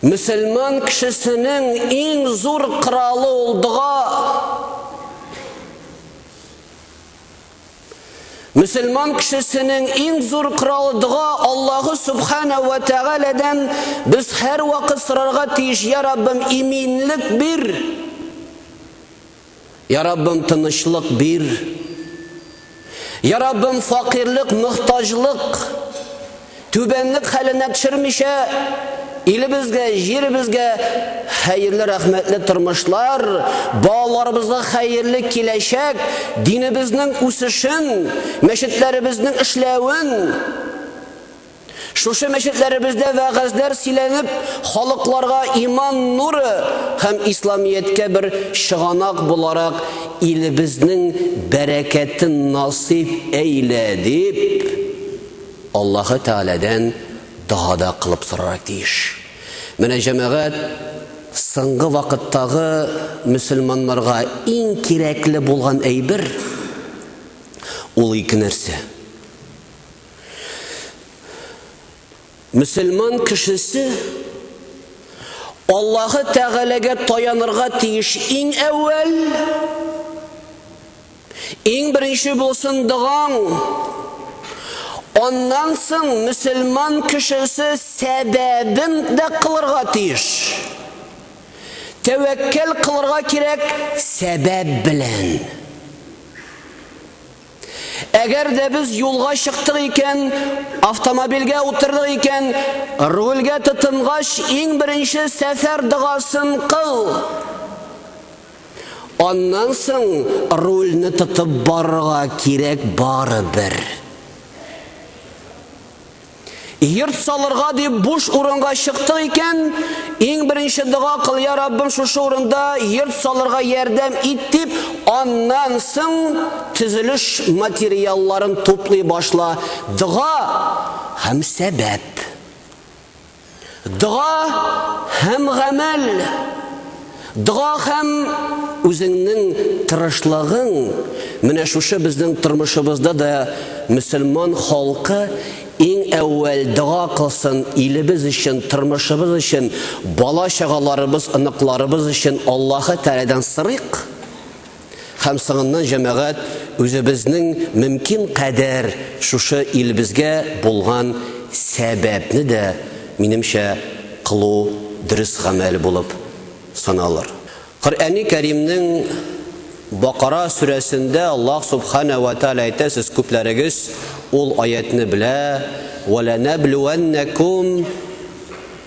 Мөселман кешесенең иң зур коралы ул дога. Мөселман кешесенең иң зур коралы дога Аллаһу субхана ва тәгаләдән без һәрвакыт сорарга тиеш, я Раббым, иминлек бир. Я Раббым, тынычлык бир. Я Раббым, факирлек, мөхтаҗлык, түбәнлек хәленә төшермичә, илебезгә, җиребезгә хәерле, рәхмәтле тормышлар, балаларыбызга хәерле киләчәк, динебезнең үсешен, мәчетләребезнең эшләвен, Шушы мәчетләребездә вәгазьләр сөйләнеп, халыкларга иман нуры һәм Исламияткә бер чыганак буларак илебезнең бәрәкәтен насыйп әйлә дип, Аллаһы Тәгаләдән дога да кылып сорарак тиеш. Менә җәмәгать соңгы вакыттагы мөселманнарга иң кирәкле булган әйбер, ул ике нәрсә. Мөселман кешесе Аллаһы Тәгаләгә таянырга тиеш иң әүвәл. Иң беренче булсын доган. Аннан соң мөселман кешесе сәбәбен дә кылырга тиеш. Тәвәккәл кылырга кирәк сәбәп белән. Әгәр дә без юлга чыктык икән, автомобильгә утырдык икән, рульгә тотынгач, иң беренче сәфәр догасын кыл. Аннан соң рульне тотып барырга кирәк барыбер. Йорт салырга дип буш урынга чыктык икән, иң беренче дога кыл, я Раббым, шушы урында йорт салырга ярдәм ит дип, аннан соң төзелеш материалларын туплый башла. Дога һәм сәбәп. Дога һәм гамәл. Дога һәм үзеңнең тырышлыгың. Менә шушы безнең тормышыбызда да мөселман халкы иң әүвәл дога кылсын илебез өчен, тормышыбыз өчен, бала-чагаларыбыз, оныкларыбыз өчен Аллаһы Тәгаләдән сорыйк. Һәм соңыннан җәмәгать үзебезнең мөмкин кадәр шушы илебезгә булган сәбәпне дә, минемчә, кылу дөрес гамәл булып саналыр. Коръәни Кәримнең Бакара сүрәсендә Аллаһ Субхана вә Тәгалә әйтә, сез күпләрегез ул аятьне белә, Вәләнәблүәннәкүм,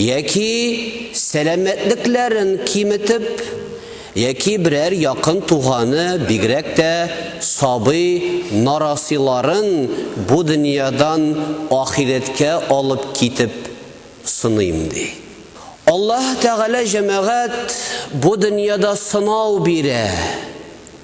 Яки сәламәтлекләрен киметеп, яки берәр якын туганы, бигрәк тә сабый нарасыйларын бу дөньядан ахирәткә алып китеп сыныйм, ди. Аллаһы Тәгалә, җәмәгать, бу дөньяда сынау бирә.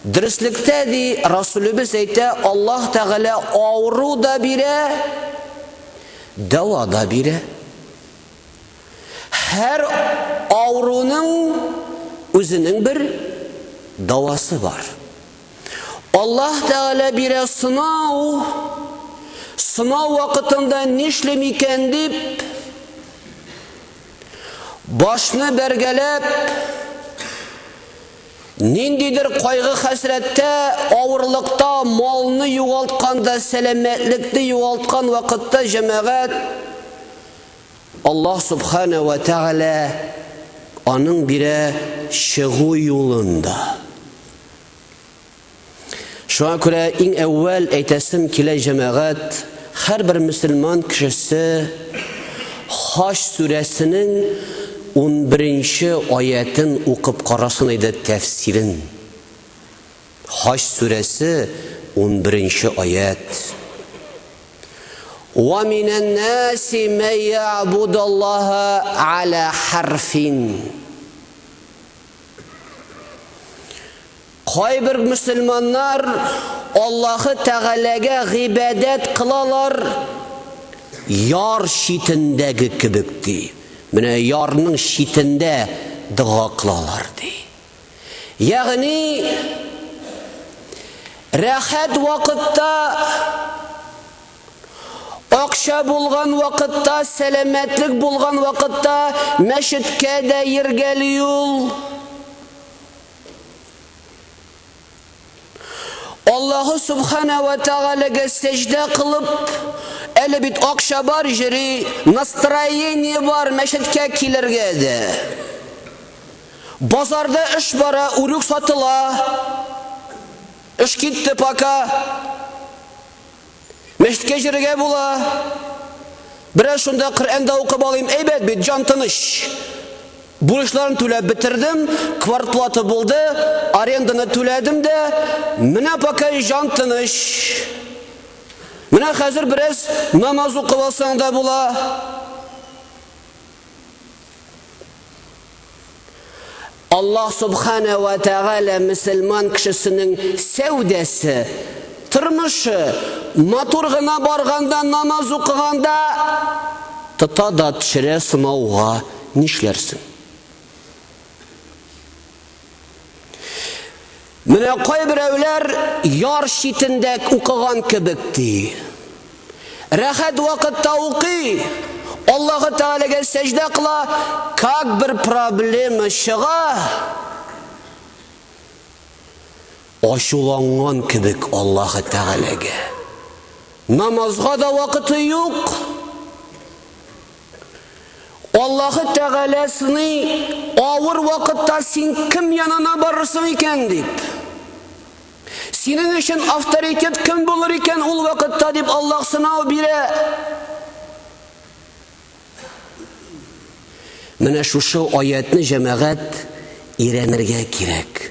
Дөреслектә, ди, Расүлебез әйтә, Аллаһ Тәгалә авыру да бирә, дәва да бирә. Һәр авыруның үзенең бер давасы бар. Аллаһ Тәгалә бирә сынау, сынау вакытында нишлим икән дип, башны бәргәләп, Ниндидер кайгы-хәсрәттә, авырлыкта, малны югалтканда, сәламәтлекне югалткан вакытта җәмәгать Аллаһ Субхана вә Тәгалә аның бирә чыгу юлын да. Шуңа күрә иң әүвәл әйтәсем килә җәмәгать, һәрбер мөселман кешесе Хаҗ сүрәсенең 11-нче аятен укып карасын иде тәфсирен. Хаҗ сүрәсе 11-нче аят. Ва минән наси мә я'будаллаһа аля харфин. Кайбер мөселманнар Аллаһы Тәгаләгә гыйбадәт кылалар яр читендәге кебек, ди. Менә ярның читендә дога кылалар, ди. Ягъни, рәхәт вакытта, акча булган вакытта, сәламәтлек булган вакытта мәчеткә дә йөргәли ул. Аллаһу Субхана ва Тәгаләгә сәҗдә кылып, әле бит акча бар җири, настроение бар, мәчеткә килергә дә. Базарда эш бара, үрүк сатыла. Эш китте пока. Мәчеткә йөрергә була. Бераз шунда Коръән дә укып алыйм. Әйбәт бит, җан тыныч. Бурычларны түләп бетердем, квартплата булды, аренданы түләдем дә, менә пока җан тыныч. Менә хәзер бераз намаз укып алсаң да була. Аллаһ Субхана ва Тәгалә мөселман кешесенең сәүдәсе, тормышы матур гына барганда, намаз укыганда тота да төшерә сынауга, нишләрсең? Менә кайберәүләр яр читендә укыган кебек ди. Рәхәт вакытта укый, Аллаһы Тәгаләгә сәҗдә кыла, как бер проблема чыга, ачуланган кебек Аллаһы Тәгаләгә. Намазга да вакыты юк. Аллаһы Тәгалә сыный, авыр вакытта син кем янына барырсың икән, дип. Синең өчен авторитет кем булыр икән ул вакытта, дип Аллаһ сынау бирә. Менә шушы аятьне җәмәгать өйрәнергә кирәк.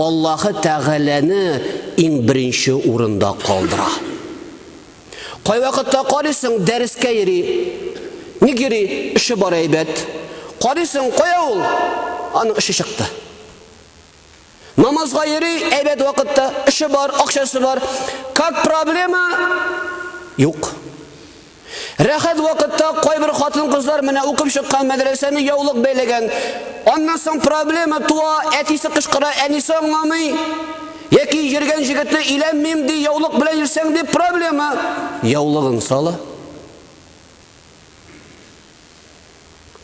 Аллаһы Тәгаләне иң беренче урында калдыра. Кайвакытта карыйсың, дәрескә йөри. Ник йөри? Эше бар әйбәт. Карыйсың, кая ул? Аның эше чыкты. Намазга йөри, әйбәт вакытта, эше бар, акчасы бар. Как проблема? Юк. Рәхәт вакытта кайбер хатын-кызлар менә укып чыккан мәдрәсәне яулык бәйләгән. Аннан соң проблема туа, әтисе кычкыра, әнисе аңламый. Яки йөргән җегете өйләнмим ди, яулык белән йөрсәң дип проблема. Яулыгын сала.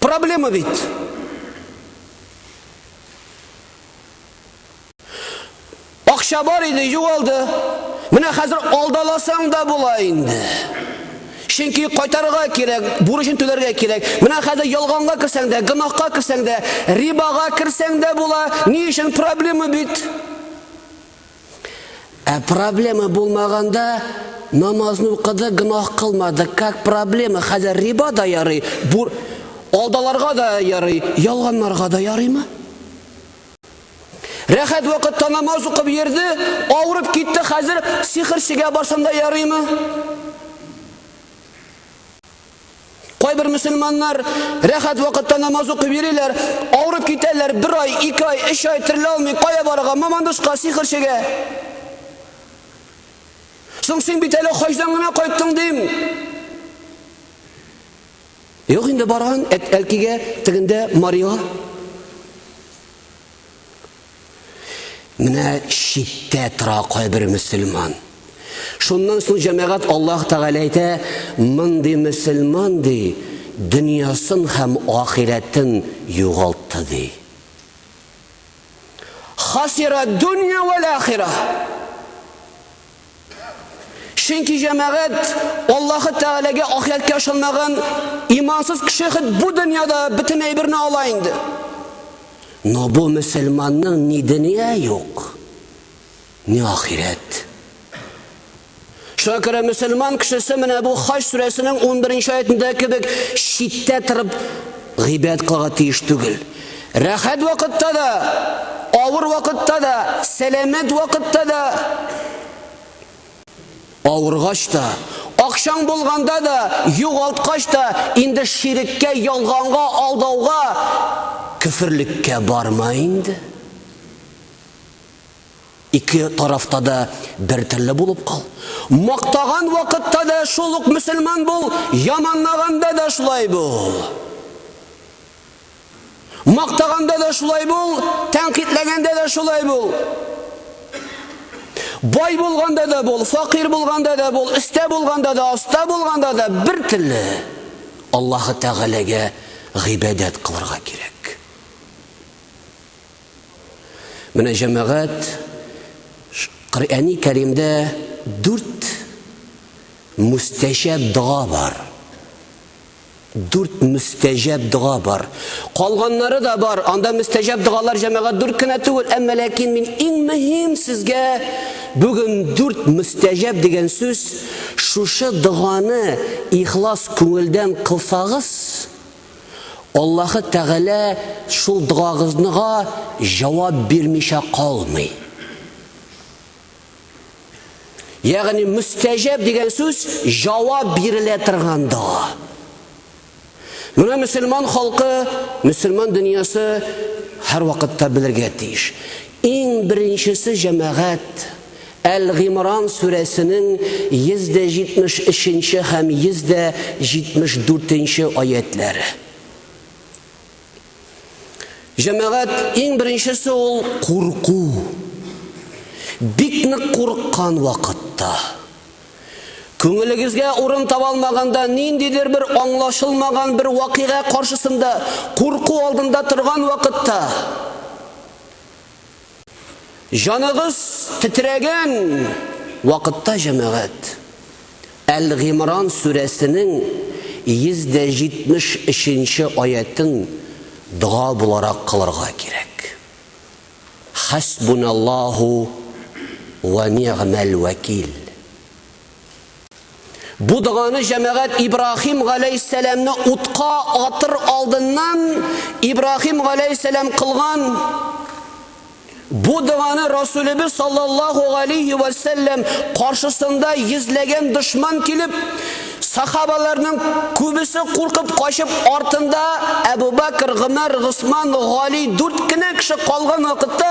Проблема бит. Акча бар иде, югалды. Менә хәзер алдаласаң да була инде. Чөнки кайтарырга кирәк, бурычын түләргә кирәк. Менә хәзер ялганга керсәң дә, гынахка керсәң дә, рибага керсәң дә була. Ни өчен проблема бит? Ә проблема булмаганда намазны укыды, гынах кылмады. Как проблема? Хәзер риба да ярый, бур... алдаларга да ярый, ялганларга да ярыймы? Рәхәт вакытта намаз укып йөрде, авырып китте, хәзер сихерчегә барсам да ярыймы? Кайбер мөселманнар рәхәт вакытта намаз укып йөриләр, авырып китәләр, бер ай, ике ай, өч ай терелә алмый, кая барырга, мамандышка, сихерчегә. Соң син бит әле хаҗдан гына кайттың, дим. Юк инде барган Әлкигә тегендә Марига. Менә читтә тора кайбер мөселман. Шуннан соң җәмәгать Аллаһ Тәгалә әйтә, мондый мөселман ди, дөньясын һәм ахирәтен югалтты ди. Хасира дөнья вәл ахира. Чөнки җәмәгать Аллаһы Тәгаләгә ахирәткә ышанмаган имансыз кеше хет бу дөньяда бөтен әйберне ала инде. Но бу мөселманның ни дөнья юк, ни ахирәт. Шуңа күрә мөселман кешесе менә бу Хаҗ сүрәсенең 11 нче аятында кебек читтә торып гыйбадәт кылырга тиеш түгел. Рәхәт вакытта да, авыр вакытта да, сәламәт вакытта да, авыргач та, акчаң булганда да, югалткач та, инде ширеккә, ялганга, алдауга, көферлеккә барма инде. Ике тарафта да бер телле булып кал. Мактаган вакытта да шул ук мөселман бул, яманлаганда да шулай бул. Мактаганда да шулай бул, тәнкыйтьләгәндә дә шулай бул. Бай булганда да бул, факир булганда да бул, өстә булганда да, аста булганда да бер телле. Аллаһы Тәгаләгә гыйбадәт кылырга кирәк. Менә җәмәгать Коръәни Кәримдә дүрт мустәҗәб дога бар. Дүрт мөстәҗәб дога бар. Калганнары да бар. Анда мөстәҗәб догалар җәмәгать дүрт кенә түгел, әмма ләкин мин иң мөһим сезгә бүген дүрт мөстәҗәб дигән сүз, шушы доганы ихлас күңелдән кылсагыз, Аллаһы Тәгалә шул догагызныга җавап бирмичә калмый. Ягъни мөстәҗәб дигән сүз җавап бирелә торган дога. Менә мөселман халкы, мөселман дөньясы һәрвакытта белергә тиеш. Иң беренчесе җәмәгать Әл-Гимран сүрәсенең 173 һәм 174 аятләре. Җәмәгать, иң беренчесе ул курку. Бик нык курыккан вакытта. Күңелегезгә урын таба алмаганда, ниндидер бер аңлашылмаган бер вакыйга каршысында, курку алдында торган вакытта, Җаныгыз тетрәгән вакытта, җәмәгать, Әл-Гимран сүрәсенең 173 нче аятен дога буларак кылырга кирәк. Хәсбуналлаһу вә нигъмәл вәкил. Бу доганы җәмәгать Ибраһим галәйһиссәламне утка атыр алдыннан Ибраһим галәйһиссәлам кылган. Бу доганы Расулебез саллаллаһу алейһи ва саллям каршысында йөзләгән дошман килеп, сахабаларның күбесе куркып качып, артында Әбу Бәкр, Гомәр, Госман, Гали дүрт кенә кеше калган вакытта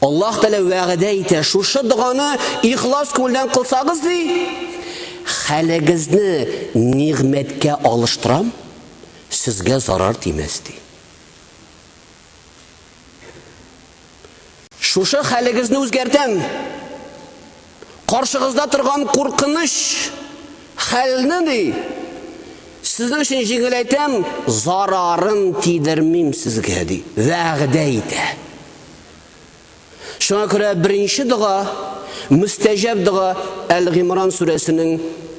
Аллаһ Тәгалә вәгъдә итә, шушы доганы ихлас күңелдән кылсагыз, ди, хәлегезне нигъмәткә алыштырам, сезгә зарар тимәс, ди. Шушы хәлегезне үзгәртәм, Каршыгызда торган куркыныч хәлне, ди, сезнең өчен җиңеләйтәм, зарарын тидермим сезгә, ди, вәгъдә итә. Шуңа күрә беренче дога, мөстәҗәб дога Әл-Гимран сүрәсенең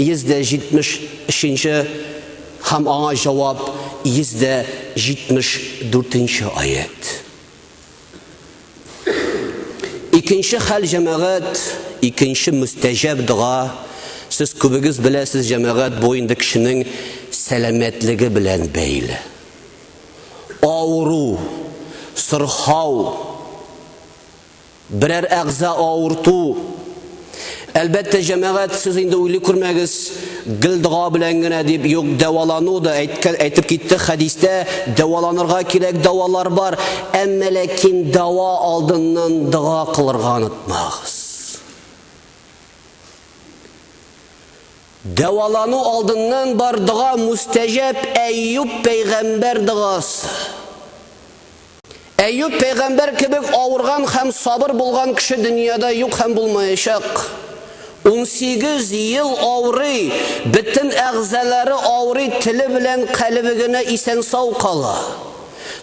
173-нче һәм аңа җавап 174-нче аять. Икенче хәл, җәмәгать, икенче мөстәҗәб дога. Сез күбегез беләсез, җәмәгать, бу инде кешенең сәламәтлеге белән бәйле. Авыру, сырхау, берәр әгъза авырту, Әлбәттә, җәмәгать, сез инде уйлый күрмәгез, гел дога белән генә дип, юк, дәвалану да әйткән, әйтеп китте хәдистә, дәваланырга кирәк, дәвалар бар, әмма ләкин дәва алдыннан дога кылырга онытмагыз. Дәвалану алдыннан бар дога мустәҗәп Әйюб пәйгамбәр догасы. Әйюб пәйгамбәр кебек авырган һәм сабыр булган кеше дөньяда юк һәм булмаячак. Унсигез ел авырый, бөтен әгъзалары авырый, теле белән калебе генә исән-сау кала.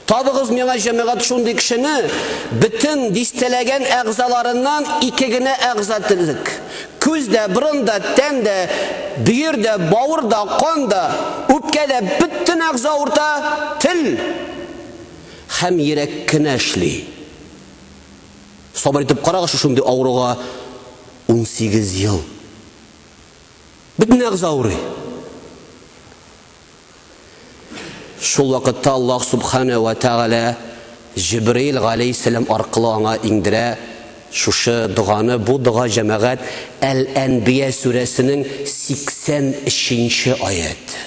Табыгыз миңа, җәмәгать, шундый кешене, бөтен дистәләгән әгъзаларыннан ике генә әгъза терлек, күз дә, борын да, тән дә, бөер дә, бавыр да, кан да, үпкә дә, бөтен әгъза авырта, тел! Хәм йерәк кенә эшли. Сабыр итеп карагызчы шундый авыруга унсигез ел. Бөтен әгъза авырый. Шул вакытта Аллаһ Субхана вә Тәгалә Җибраил галәйһиссәлам аркылы аңа иңдерә шушы доганы, бу дога җәмәгать Әл-Әнбия сүрәсенең 83 нче аяте.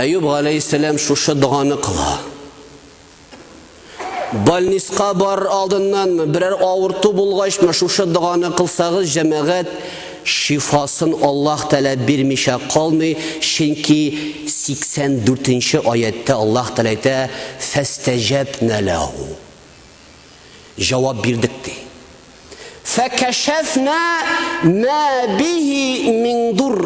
Әюб галәйһиссәлам шушы доганы кыла. Больниска бар алдыннанмы, берәр авырту булгачмы шушы доганы кылсагыз, җәмәгать шифасын Аллаһ Тәгалә бирмичә калмый, чөнки 84 нче аятьтә Аллаһ Тәгалә әйтә: "Фәстәҗәбнә ләһу". Җавап бирдек, ди. Фәкәшәфнә мә бихи мин дур.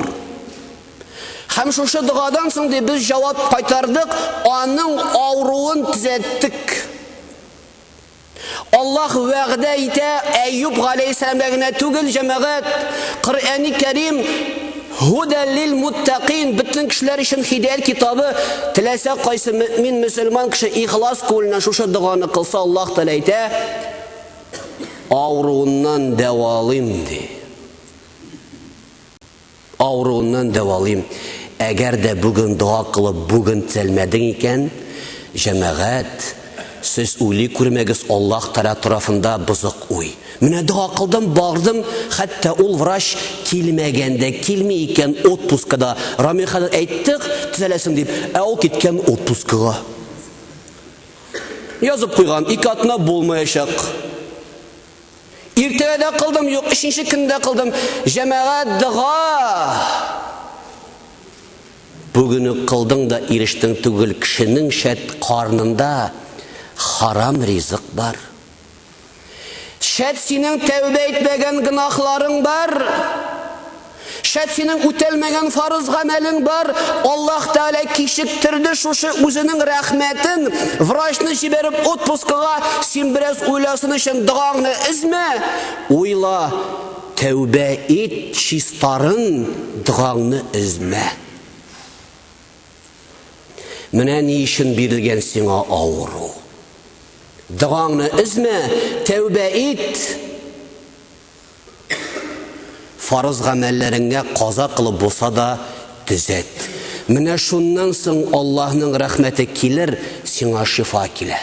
Һәм шушы догадан соң ди без җавап кайтардык, аның авыруын төзәттек. Аллаһ вәгъдә итә, Әйюб галәйһиссәламгә генә түгел, җәмәгать, Коръәни Кәрим Һудәл лил муттакин бөтен кешеләр өчен хидәят китабы. Теләсә кайсы мөмин мөселман кеше ихлас күңеленнән шушы доганы кылса, Аллаһ Тәгалә әйтә, авыруыннан дәвалыйм ди. Авыруыннан дәвалыйм. Әгәр дә бүген дога кылып, бүген төзәлмәдең икән, җәмәгать, Сез уйлый күрмәгез Аллаһ Тәгалә тарафында бозык уй. Менә дога кылдым, бардым, хәтта ул врач килмәгән дә, килми икән отпуска да. Рамил хәзрәт әйттек, төзәләсең дип, ә ул киткән отпускага. Язып куйган, ике атна булмаячак. Иртәгә дә кылдым, юк, өченче көндә кылдым. Җәмәгать дога! Бүген үк кылдың да ирештең түгел, кешенең шәт карнында харам ризык бар. Шәт синең тәүбә итмәгән гөнаһларың бар. Шәт синең үтәлмәгән фарыз гамәлең бар. Аллаһ Тәгалә кичектерде шушы үзенең рәхмәтен, врачны җибәреп отпускага, син бераз уйласын өчен догаңны өзмә, уйла. Тәүбә ит, чистарын, догаңны өзмә. Менә ни өчен бирелгән сиңа авыру. Догаңны өзмә, тәүбә ит. Фарыз гамәлләреңә каза кылып булса да төзәт. Менә шуннан соң Аллаһның рәхмәте килер, сиңа шифа килә.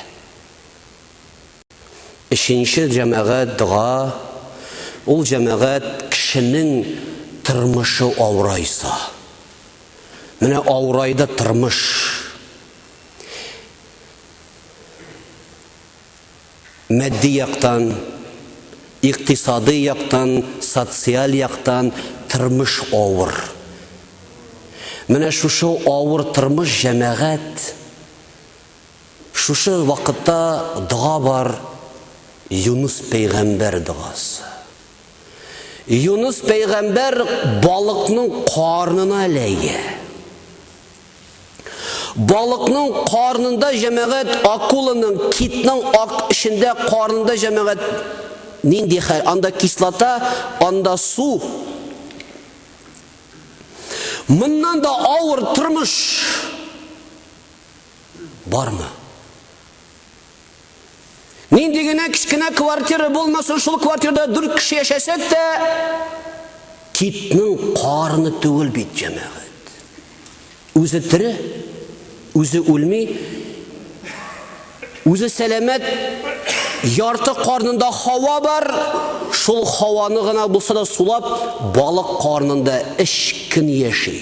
Өченче җәмәгать, дога. Ул җәмәгать кешенең тормышы авырайса. Менә авырайды тормыш. Матди яктан, икътисадый яктан, социаль яктан тормыш авыр. Менә шушы авыр тормыш җәмәгать Шушы вакытта дога бар, Юныс пәйгамбәр догасы. Юныс пәйгамбәр балыкның карнына эләгә. Балыкның карнында җәмәгать акуланың, китның ак эчендә карнында җәмәгать нинди хәл? Анда кислота, анда су. Моннан да авыр тормыш. Бармы? Нинди генә кечкенә квартира булмасын, шул квартирада дүрт кеше яшәсәк тә, китнең карны түгел бит, җәмәгать. Үзе тире, үзе үлми, үзе сәламәт, ярты карнында хава бар, шул хаваны гына булса да сулап, балык карнында эшкин яши.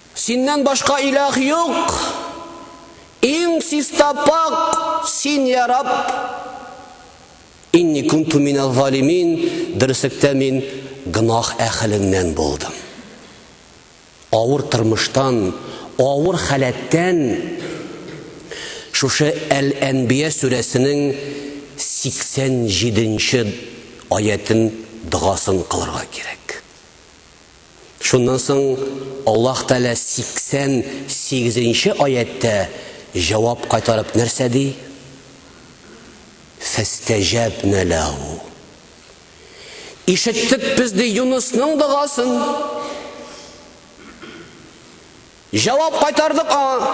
Синнән башка илаһ юк, иң чиста пакь Син, йа Рабб! Инни кунту минәззалимин, дөреслектә мин гөнаһ әһеленнән булдым. Авыр тормыштан, авыр халәттән шушы Әл-Әнбия сүрәсенең 87 нче аятен догасын кылырга кирәк. Шуннан соң Аллаһ Тәгалә 88 нче аятьтә җавап кайтарып нәрсә ди? Фәстәҗәбнә ләһу. Ишеттек без ди Юнысның догасын. Җавап кайтардык аңа.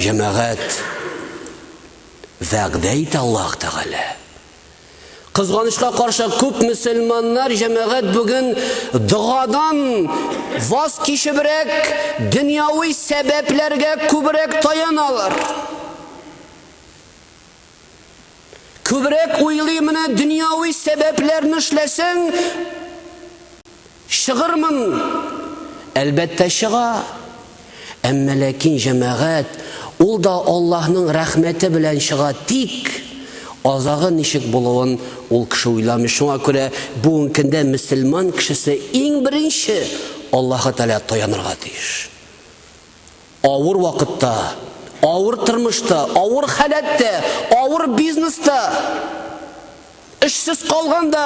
Җәмәгать вәгъдә итә Аллаһ Тәгалә. Кызганычка каршы күп мөселманнар җәмәгать бүген догадан ваз кичебрәк, дөньяви сәбәпләргә күбрәк таяналар. Күбрәк уйлыйм, менә дөньяви сәбәпләрне эшләсәң, чыгырмын. Әлбәттә, чыга. Әмма ләкин җәмәгать, ул да Аллаһның рәхмәте белән чыга, тик азагы ничек булуын ул кеше уйламый. Шуңа күрә бүгенге көндә мөселман кешесе иң беренче Аллаһы Тәгаләгә таянырга тиеш. Авыр вакытта, авыр тормышта, авыр халәттә, авыр бизнеста, эшсез калганда,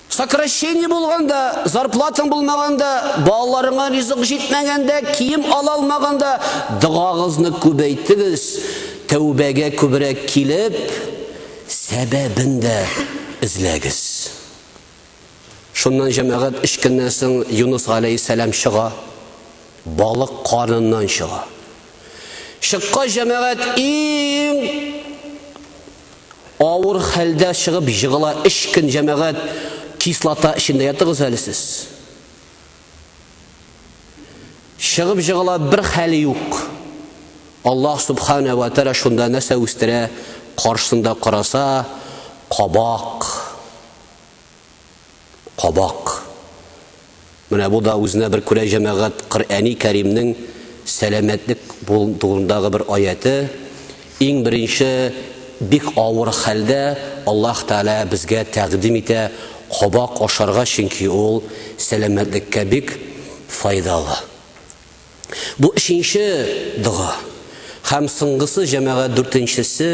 сокращение булганда, зарплатаң булмаганда, балаларыңа ризык җитмәгәндә, кием ала алмаганда догагызны күбәйтегез. Тәүбәгә күбрәк килеп, сәбәбен дә эзләгез. Шуннан җәмәгать өч көннән соң Юныс галәйһиссәлам чыга, балык карыныннан чыга. Чыккач җәмәгать иң авыр хәлдә чыгып җыгыла. Өч көн җәмәгать кислота эчендә ятыгыз әле сез. Чыгып җыгыла бер хәл юк. Аллаһ субхана ва тәра шунда нәрсә үстерә, каршында караса, кабак. кабак. Менә бу да үзенә бер күрә җәмәгать Коръәни Кәримнең сәламәтлек турындагы бер аяте. Иң беренче бик авыр хәлдә Аллаһ Тәгалә безгә тәкъдим итә кабак ашарга, чөнки ул сәламәтлеккә бик файдалы. Бу өченче дога. Һәм соңгысы, җәмәгать, дүртенчесе.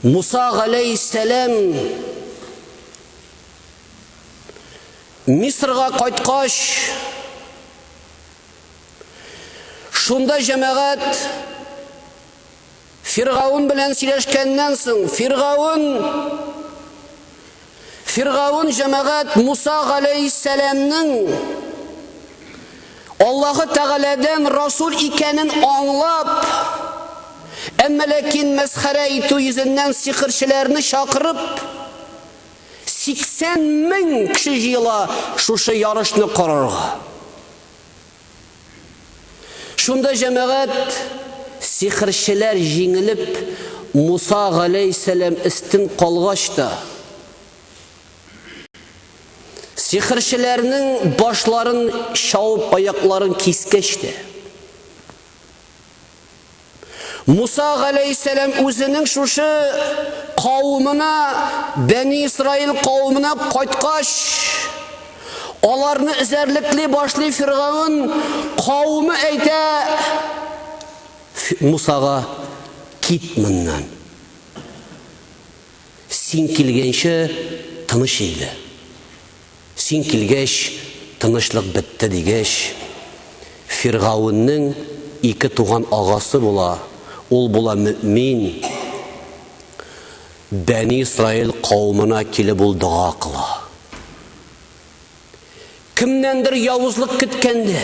Муса галәйһиссәлам Мисырга кайткач, шунда җәмәгать Фиргаун белән сөйләшкәннән соң, Фиргаун Фиргаун җәмәгать Муса галәйһиссәламнең Аллаһы Тәгаләдән расул икәнен аңлап, әмма ләкин мәсхәрә итү йөзеннән сихерчеләрне чакырып, 80 мең кеше җыела шушы ярышны карарга. Шунда җәмәгать, сихерчеләр җиңелеп, Муса галәйһиссәлам өстен калгач та, сихерчеләрнең башларын чауып, аякларын кискәч тә, Муса галәйһиссәлам үзенең шушы кавымына, Бәни Исраил кавымына кайткач, аларны эзәрлекли башлый Фиргаун кавымы әйтә Мусага, Кит моннан. Син килгәнче тыныч инде. Син килгәч, тынычлык бетте, дигәч, Фиргауннең ике туган агасы була, ул була мөэмин, Бәни Исраил кавымына килеп ул дога кыла. Кемнәндер явызлык көткәнде.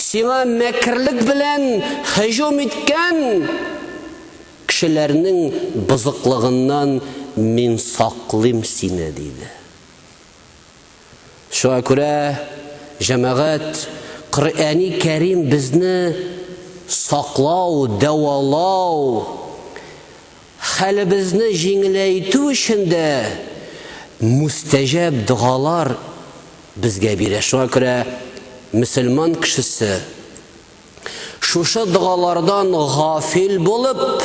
Сиңа мәкерлек белән һөҗүм иткән кешеләрнең бозыклыгыннан Мин саклыйм сине, диде. Шуңа күрә, җәмәгать, Коръәни Кәрим безне саклау, дәвалау, Хәлебезне җиңеләйтү өчен дә мустәҗәб догалар безгә бирә. Шуңа күрә мөселман кешесе шушы догалардан гафил булып,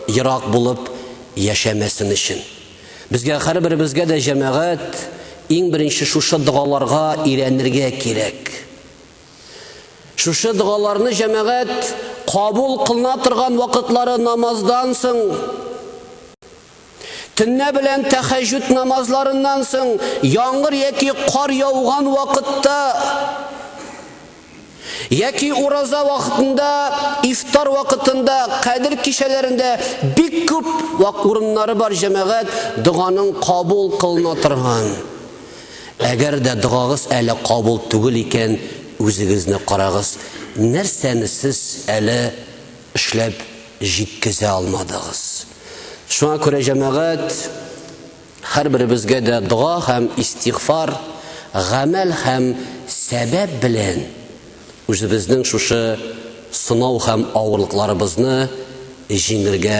ерак булып яшәмәсен өчен. Безгә һәрберебезгә дә, җәмәгать, иң беренче шушы догаларга өйрәнергә кирәк. Шушы догаларны җәмәгать кабул кылына торган вакытлары намаздан соң, төнлә белән тәхәҗҗүд намазларыннан соң, яңгыр яки кар яуган вакытта яки ураза вакытында, ифтар вакытында, кадер кичәләрендә бик күп вак урыннары бар җәмәгать доганың кабул кылына торган. Әгәр дә догагыз әле кабул түгел икән, үзегезне карагыз, нәрсәне сез әле эшләп җиткезә алмадыгыз? Шуңа күрә, җәмәгать, һәрберебезгә дә дога һәм истигъфар, гамәл һәм сәбәп белән үзебезнең шушы сынау һәм авырлыкларыбызны җиңергә